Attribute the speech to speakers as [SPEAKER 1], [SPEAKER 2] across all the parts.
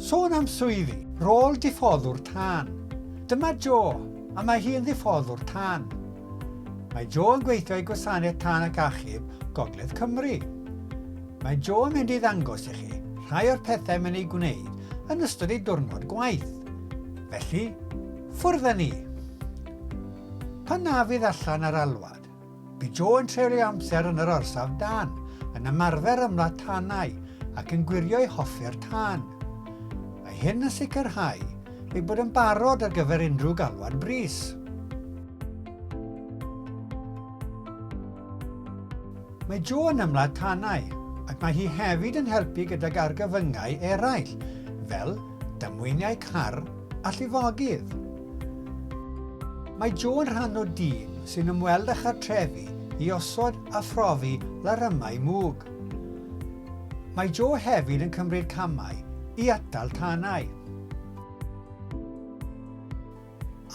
[SPEAKER 1] Sôn am swyddi, rôl diffoddwr tân. Dyma Jo, a mae hi yn ddiffoddwr tân. Mae Jo yn gweithio i Gwasanaeth Tân ac Achub Gogledd Cymru. Mae Jo yn mynd i ddangos i chi rhai o'r pethau mae'n ei gwneud yn ystod ei diwrnod gwaith. Felly, ffwrdd â ni! Pan na fydd allan ar alwad, Bu Jo yn treulio amser yn yr orsaf dân, yn ymarfer ymladd tanau ac yn gwirio ei hoffer tân. Mae hyn yn sicrhau ei bod yn barod ar gyfer unrhyw galwad brys. Mae Jo yn ymladd tanau ac mae hi hefyd yn helpu gydag argyfyngau eraill, fel damweiniau car a llifogydd. Mae Jo yn rhan o dîm sy'n ymweld â chartrefi i osod a phrofi larymau mwg. Mae Jo hefyd yn cymryd camau i atal tanau.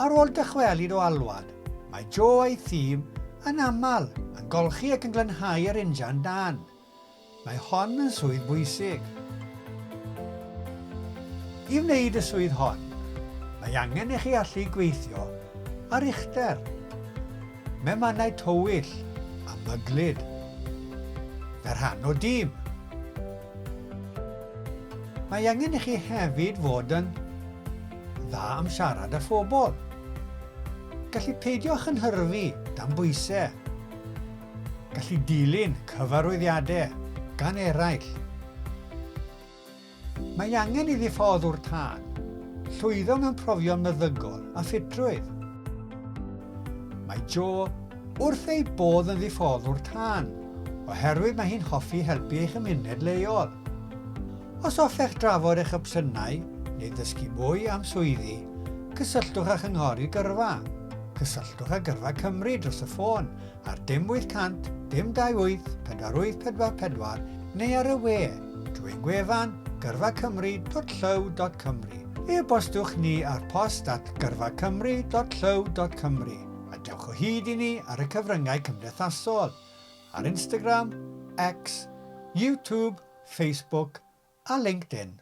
[SPEAKER 1] Ar ôl dychwelyd o alwad, mae Jo a'i thîm yn aml yn golchi ac yn glanhau yr injan dân. Mae hon yn swydd bwysig. I wneud y swydd hon, mae angen i chi allu gweithio ar uchder, mewn mannau tywyll a myglyd, fel rhan o dîm. Mae angen i chi hefyd fod yn dda am siarad â phobl, gallu peidio chynhyrfu dan bwysau, Gallu dilyn cyfarwyddiadau gan eraill. Mae angen iddi ffordd o'r tân. Llwyddo mewn profion meddygol a ffitrwydd. Mae Jo wrth ei bodd yn ddiffodd o'r tân, oherwydd mae hi'n hoffi helpu ei chymuned leol. Os hoffech drafod eich opsiynau neu ddysgu mwy am swyddi, cysylltwch â Chynghori Gyrfa. Cysylltwch â Gyrfa Cymru dros y ffôn ar dim 800 dim 28 4844 neu ar y we, drwy'n gwefan gyrfacymru.llyw.cymru. E-bostwch ni ar post at gyrfacymru.llyw.cymru a dewch o hyd i ni ar y cyfryngau cymdeithasol, ar Instagram, X, YouTube, Facebook a LinkedIn.